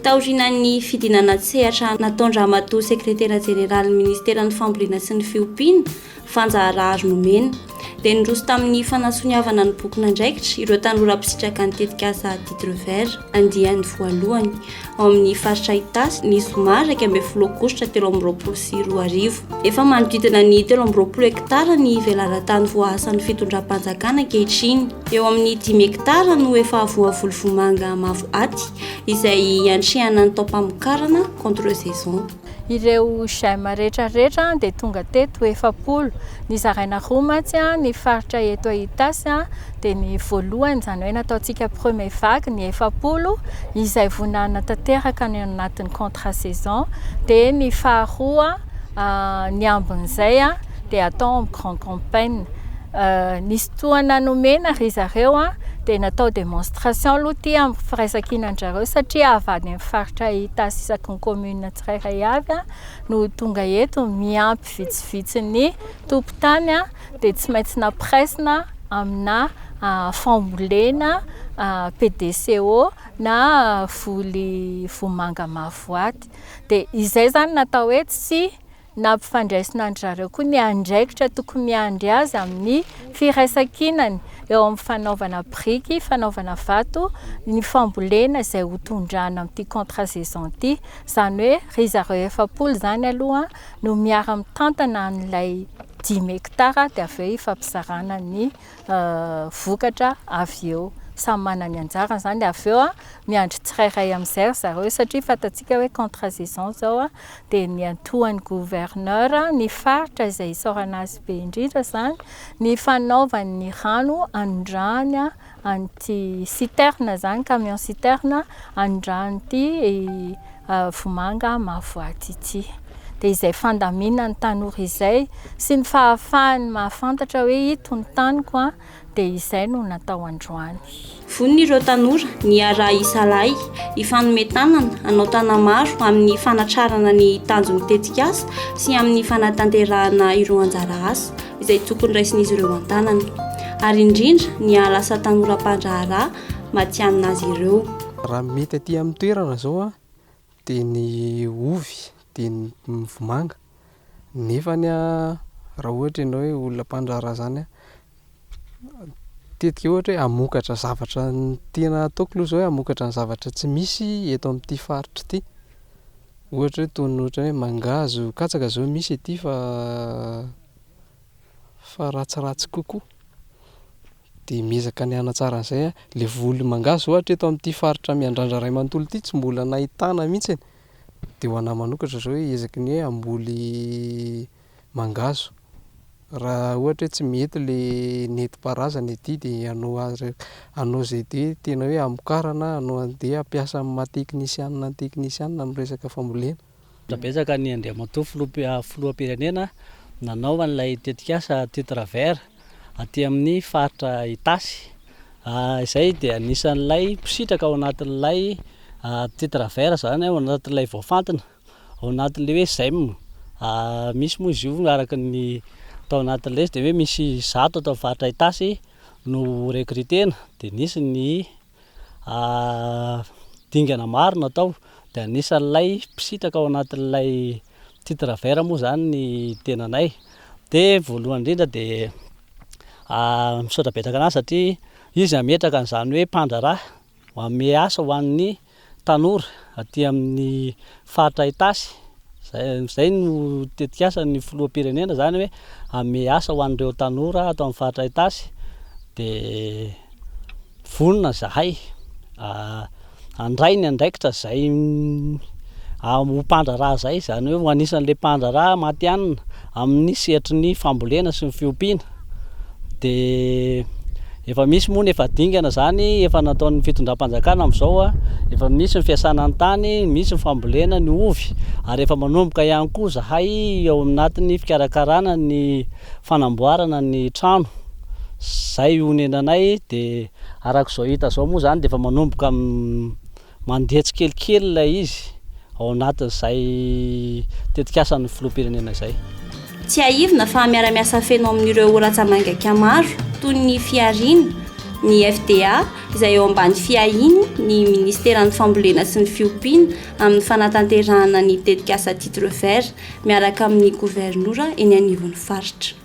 Taorian'ny fidinana an-tsehatra nataon-dRamatoa Sekretera Jeneralin'ny Ministeran'ny Fambolena sy ny Fiompiana, Vanja Raharnomena, dia niroso tamin'ny fanasoniavana ny bokin'andraikitra ireo tanora mpisitraka ny tetikasa Titre Vert andiany voalohany ao amin'ny faritra Itasy ny zoma iraika ambin'ny folo aogositra telo amby roapolo sy roa arivo. Efa manodidina ny telo amby roapolo hektara ny velaran-tany voahasan'ny fitondram-panjakana ankehitriny. Eo amin'ny dimy hektara no efa voavolo vomanga mavo aty izay iantrehana ny taom-pamokarana contre-saison. Ireo j'aime rehetra rehetra dia tonga teto efapolo, ny zaraina roa mantsy ny faritra eto Itasy dia ny voalohany izany hoe nataontsika premier vague ny efapolo izay vonona tanteraka any anatin'ny contrat saison dia ny faharoa ny ambin'izay dia atao amin'ny grand campaigna, nisy tohana nomena ry zareo dia natao demonstration aloha ity amin'ny firaisankina an-dry zareo satria avy any amin'ny faritra Itasy isaky ny. commune tsirairay avy no tonga eto miampy vitsivitsy ny tompon-tany dia tsy maintsy nampiraisina amina fambolena PDCO na voly vomanga mavoaty dia izay izany natao hoe tsy Nampifandraisina an-dry zareo koa ny andraikitra tokony miandry azy amin'ny firaisankinany eo amin'ny fanaovana biriky, fanaovana vato, ny fambolena izay ho tondrana amin'ity contrat saison ity. Izany hoe ry zareo efapolo izany aloha no miara-mitantana an'ilay dimy hekitara dia avy eo ifampizarana ny vokatra avy eo. Samy manana ny anjarany izany. Dia avy eo miandry tsirairay amin'izay ry zareo, satria fantatsika hoe contrat saison izao, dia niantohan'ny gouverneur ny faritra izay isaorana azy be indrindra izany, ny fanaovany ny rano anondrahany an'ity citerne izany, camion citerne anondrahany ity vomanga mavo aty ity. dia izay fandaminan'ny tanora izay sy ny fahafahany mahafantatra hoe ito ny taniko an, dia izay no natao androany. Vonona ireo tanora ny hiara-hisalahy, hifanome tanana, hanao tanamaro amin'ny fanatrarana ny tanjon'ny tetikasa sy amin'ny fanatanterahana ireo anjara asa izay tokony raisin'izy ireo an-tanana, ary indrindra ny hahalasa tanora mpandraharaha matihanina azy ireo. Raha mety aty amin'ny toerana izao Dia ny ovy, dia ny vomanga. Nefany raha ohatra ianao hoe olona mpandraharaha izany, tetika ohatra hoe hamokatra zavatra, ny tena ataoko aloha izao hoe hamokatra ny zavatra tsy misy eto amin'ity faritra ity. Ohatra hoe toy ny ohatra hoe mangahazo, katsaka izao misy ety fa fa ratsiratsy kokoa. dia miezaka ny hanatsara an'izay aho, ilay voly mangahazo ohatra eto amin'ity faritra Miandrandra iray manontolo ity tsy mbola nahitana mihitsy e, dia ho an'ahy manokatra izao hoe ezaky ny hoe hamboly mangahazo, raha ohatra hoe tsy mety ilay nentim-paharazana ety dia hanao azy hanao izay dia tena hoe hamokarana, hanao an'ity hampiasa amin'ny maha teknisianina ny teknisianina amin'ny resaka fambolena. Misaotra betsaka an'i Andriamatoa Filoham-pirenena Filoham-pirenena nanao an'ilay tetikasa Titre Vert aty amin'ny faritra Itasy. Izay dia anisan'ilay mpisitraka ao anatin'ilay Titre Vert izany, ao anatin'ilay voafantina, ao anatin'ilay hoe Zem. Misy moa izy io araka ny tao anatin'ilay izy dia hoe misy zato ato amin'ny faritra Itasy no ho recruter-na dia nisy ny. dingana maro natao dia anisan'ilay mpisitraka ao anatin'ilay titre vert moa izany ny tenanay dia voalohany indrindra dia misaotra betsaka an'azy satria izy hametraka an'izany hoe mpandraharaha manome asa ho an'ny tanora aty amin'ny faritra Itasy, izay no tetikasan'ny filoham-pirenena izany hoe hanome asa ho an'ireo tanora ato amin'ny faritra Itasy dia vonona izahay handray ny andraikitra izay ho mpandraharaha izay, izany hoe ho anisan'ilay mpandraharaha matihanina. Amin'ny sehatry ny fambolena sy ny fiompiana dia efa misy moa ny efa dingana izany efa nataon'ny fitondram-panjakana amin'izao, efa misy ny fiasana ny tany, misy ny fambolena ny ovy ary efa manomboka ihany koa izahay ao anatin'ny fikarakarana ny fanamboarana ny trano, izay honenanay dia araka izao hita izao moa izany dia efa manomboka. Mandeha tsikelikely ilay izy ao anatin'izay tetikasan'ny filoham-pirenena izay. Tsiahivina fa miara-miasa feno amin'ireo ratsa-mangaika maro toy ny Fihariana, ny FDA izay eo ambany fiahiany ny Ministeran'ny Fambolena sy ny Fiompiana amin'ny fanatanterahana ny tetikasa Titre Vert miaraka amin'ny Governora eny anivon'ny Faritra.